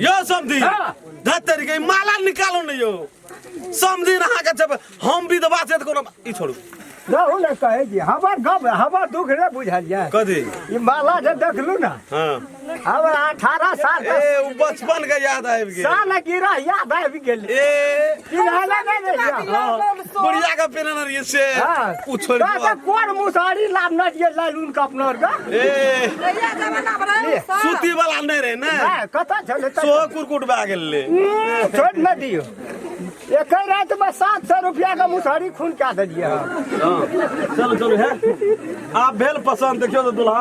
यो समधी धतरी के माला निकालो न यो समधी रहा के जब हम विधवा से त कोनो ई छोड़ू रहू ने कहे जी हमर गप हमर दुख ने बुझलियै कथी ई माला जे देखलू ना हां अब अठारह साल ए के उ बचपन के याद आबि गेल साल गिरा याद आबि गेल ए चिन्हले नहि रहियै बुढ़िया का पेन ना रही से हाँ। उ छोड़ बा बा कोर मुसारी लाभ न दिए लालून का अपना का ए कहिया जमाना बड़ा है उसका? सूती वाला नहीं रहे ना हां कथा चले त सो कुरकुट बा गेल ले हम्म, छोड़ न दियो एक ही रात में सात सौ रुपया का मुसारी खून क्या दे दिया चलो चलो है आप भेल पसंद देखियो तो दुल्हा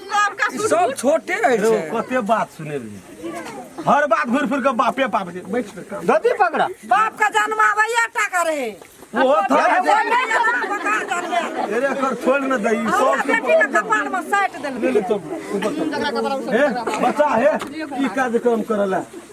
ई सब छोटे रहै छै कते बात सुनेबही हर बात घुरि फिर के बापे पाप जे बैठ के काम। धोती पकड़ा बाप का जन्म आबैया टा करे ओहो थोड़ा जे अरे एकर छोड़ न दही सब के बेटी के कपाल में साटि देलकै ले ले चल ऊपर चल। हे बच्चा हे ई कार्यक्रम करला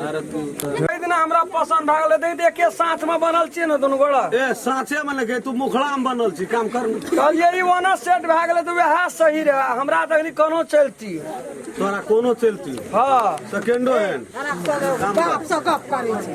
ताहि दिना हमरा पसन्द भए गेलै ताहि एके साथमे बनल छियै ने दुनू गोड़ा ए साँचे में लेके तू मुखड़ा में बनल छी काम कर न। कहलियै ई ओना सेट भए गेलै तऽ वएह सही रहए हमरा देखली कोनो चलती तोरा कोनो चलती हँ सेकेंडो हैंड बाप से गप करै छै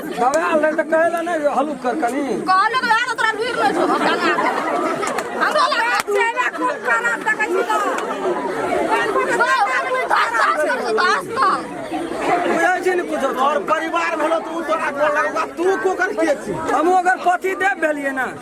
दवाई आल रहे तो कहेला नहीं हलुक कर कनी कहलो तो यार तोरा लुइर लो छो हमरो लगा चेला खूब खाना तकै छी तो और परिवार भलो तू तो आगो लगवा तू को कर के छी हम अगर पति देव भेलिए ना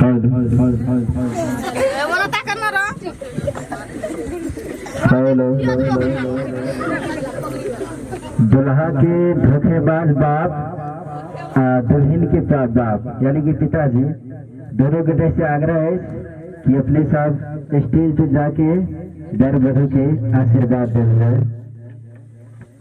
हद हद हद हद हद ए, बोला ता करना रो हेलो दुल्हा के धोखेबाज बाप आ दुल्हन के पा- बाप यानी कि पिताजी दोनों के तरफ से आग्रह है कि अपने साथ स्टेज पे जाके दर बधू के आशीर्वाद देना है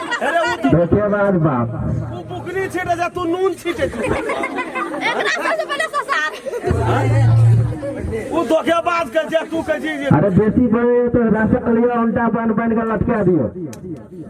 धोखेबाज बाप तू बुकनी छीटे जा तू नून छीटे तू धोखेबाज कर जा तू कह जी अरे बेसी बड़े तो राशन लियो उल्टा बन बन के लटका दियो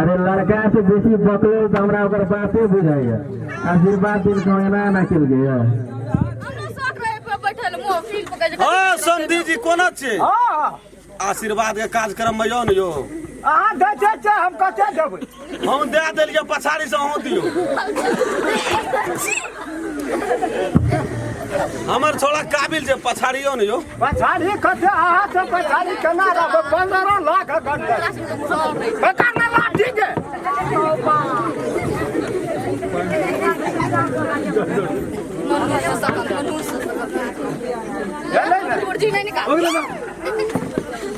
अरे लड़का से बेसी बकलो तो हमरा ओकर बाते बुझाइए आशीर्वाद दिन को एना ना किल गया हाँ समधी जी कोना छे आशीर्वाद के कार्यक्रम में यो ने यो अहाँ दै छै हम कते देबै हम दे देलियै पछाड़ी से अहूँ दियो हमर छोड़ा काबिल जे पछाड़ियो ने यो पछाड़ी कते अहाँ से पछाड़ी केना रहबै पंद्रह लाख घंटे बेकार ना लाठी के भेलै ने?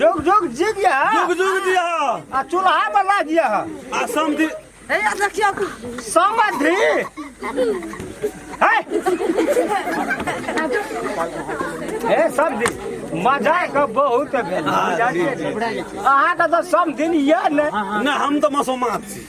जुग जुग जिग यह जुग जुग दिया आ चूल्हा पर लाग यह आ समधि हे यार देखियो समधि हे समधि मजा के बहुत भेल अहाँ के तो समधि यह ने ना हम तो मसोमात छी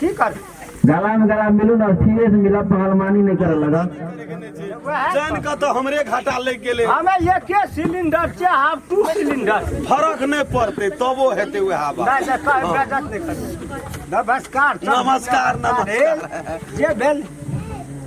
की कर गला में गला मिलू ना सीधे से मिला पहलवानी नहीं करे लगा जान का तो हमरे घाटा लग गेले हमें एके सिलेंडर छै हाफ टू सिलेंडर फरक नहीं पड़ते तबो हेते हुए हवा नहीं से कर बेजत नहीं कर नमस्कार नमस्कार, नमस्कार। जे भेल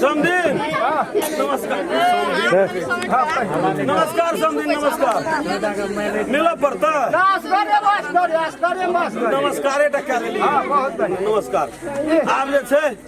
समदिन नमस्कार नमस्कार समदिन नमस्कार मिल पड़ता नमस्कार नमस्कार आब जे छै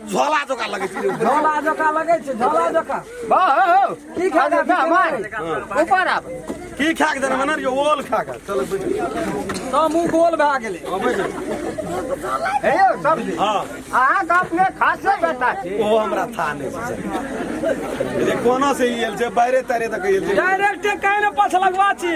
झोला जोका लगै छै झोला जोका लगै छै झोला जोका बा हो हो की खा के जा मार ऊपर आब की खा के देना मना रियो ओल खा के चल बैठ त मुंह गोल भए गेलै हां बैठ हे यौ सब्जी हां अहाँ के अपने खासे बेटा छी ओ हमरा था नै छै कोना से ई एल छै बाहरे तारे तक एल छै डायरेक्ट काहे ने पछ लगवा छी